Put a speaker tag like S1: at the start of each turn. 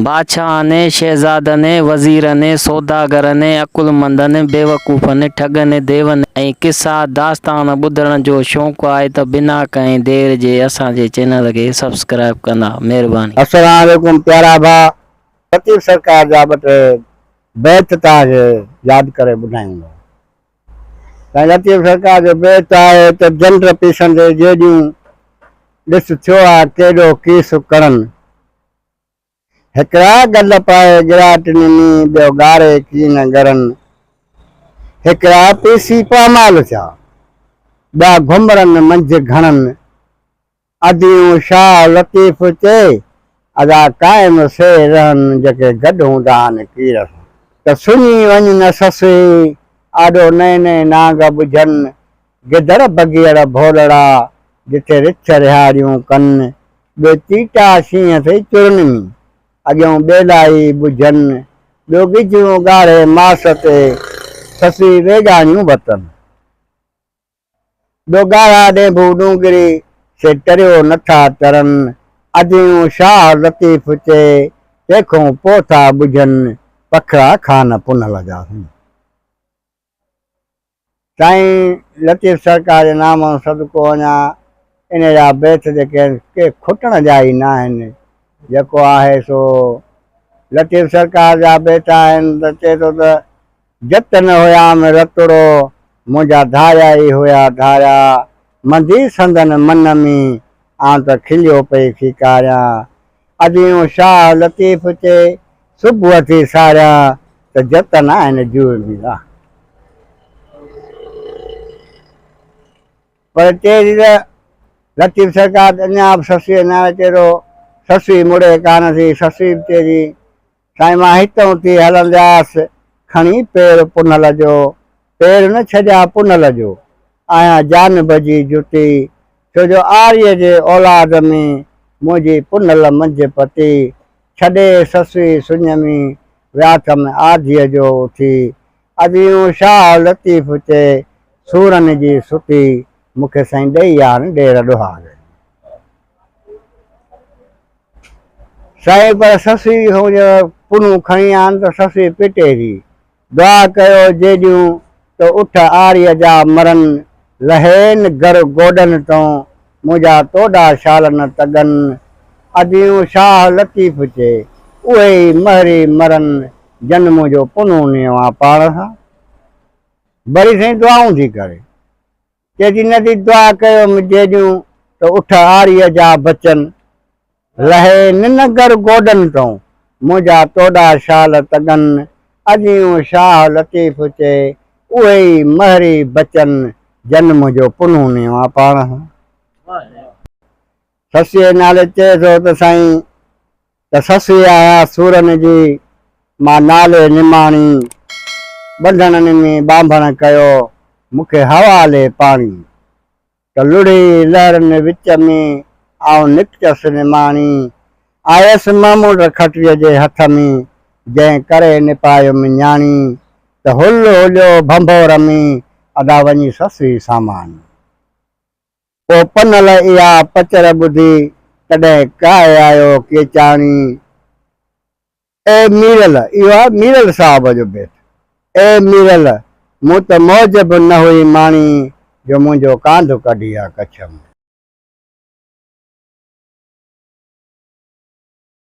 S1: بادشاهن ۽ شهزادن ۽ وزيرن ۽ سوداگرن ۽ عقلمندن ۽ بيوقوفن ۽ ٺڳن ۽ ديون ۽ قصا داستان ٻڌڻ جو شوق آهي ته بنا ڪنهن دير جي اسان جي چينل کي سبسڪرائيب ڪندا مهرباني. السلام عليڪم
S2: پيارا ڀاء فقير سرڪار جا ٻه ٽي بيت توهان کي ياد ڪري ٻڌايون ٿا. سائين لطيف سرڪار جو بيت آهي ته جنڊ پيسن تي جيڏيون ڏس ٿيو آ ڪيڏو ڪيس ڪڙن هڪڙا گل پائي ڳراٽ نمي ٻيو ڳاري ڪين ڳرن هڪڙا پيسي پامال ٿيا ٻيا گهمرن منجهه گهڻن اديون شاهه لطيف چئي ادا قائم سي رهن جيڪي گڏ هوندا آهن ڪير سان ته سڃي وڃ نه سسئي آڏو نئين نئين نانگ ٻجهن گدڙ بگيڙ ڀولڙا جتي رڇ رهاڙيون ڪن ٻيو چيٽا شينهن سي چرن ۾ اڳيون ٻيلا ئي ٻجهن ٻيو ڳجهون ڳاڙهي ماس تي سسئي ويڳاڻيون وتن. ڏوگارا ڏينڀو ڏونگري، سي ٽريو نٿا ترن. اديون شاهه لطيف چئي، تيکون پوء ٿا ٻجهن. پکڙا خان پنهل جا سائين. سائين لطيف سرڪار جي نام ۽ صدقو وڃان، انهي جا بيت جيڪي آهن، ڪي کٽڻ جا ئي ناهن. جيڪو آهي سو لطيف سرڪار جا بيت آهن ته چئي ٿو ته، جت نه هيام رتڙو، منهنجا ڌاريا ئي هيا ڌاريا، منڌي سندن من ۾، آئون ته کليو پئي کيڪاريان. اديون شاهه لطيف چي، صبح ٿي ساريان، ته جت ناهن جوء ۾ لاهه. پر چيري ته لطيف سرڪار اڃا به سسئي نه آيو چيرو، سسئي مڙي ڪانه ٿي، سسئي به چيري. سائين مان هتئون ٿي هلندياس کڻي پير پنهل جو پير نه ڇڏيا پنهل جو آهيان جانب جي جتي ڇو جو آريء جي اولاد ۾ منهنجي پنهل منجهه پتي ڇڏي سسئي سڃ ۾ وياٿم آڌيء جو اٿي اديون شاهه لطيف چئي سورن جي ستي مونکي سائين ڏئي آڻ ڏير ڏوهاري. سائين پر سسئي هونج پنهون کڻي آن ته سسئي پٽي ٿي. دعا ڪيو جيڏيون تو اٺ آريء جا مرن لهين گر گوڏن تون منهنجا توڏا شال نه تڳن. اديون شاهه لطيف چي اهي ئي مهري مرن جن منهنجو پنهون نيو آن پاڻ سان. بري سائين دعائون ٿي ڪري. چئجي نه ٿي دعا ڪيو م جيڏيون ته اٺ آريء جا بچن لهي ننگر گوڏن تون منهنجا توڏا شال تڳن اجيون شاهه لطيف چي اهي ئي مهري بچن جن منهنجو پنهون نيو آ پاڻ سسيء نالي چئي ٿو ته سائين ته سسئي آهيان سورن جي، مان نالي نماڻي. ٻنڌڻن ۾ ٻانڀڻ ڪيو، مون کي حوالي پاڻي. ته لڙهي لهرن وچ ۾، آئون نڪتس نماڻي. آيس ماموٽ کٽيء جي هٿ ۾، جنهن ڪري نپايم نياڻي. ته هل هليو ڀنڀور ۾، ادا وڃي سسئي ساماڻي. پوء پنهل اها پچر ٻڌي تڏهن ڪاهي آيو ڪيچاڻي، اي ميرل، اهو آهي ميرل صاحب جو بيت، اي ميرل، مون ته موج به نه هئي ماڻي جو منهنجو ڪانڌ ڪڍي آ ڪڇ ۾.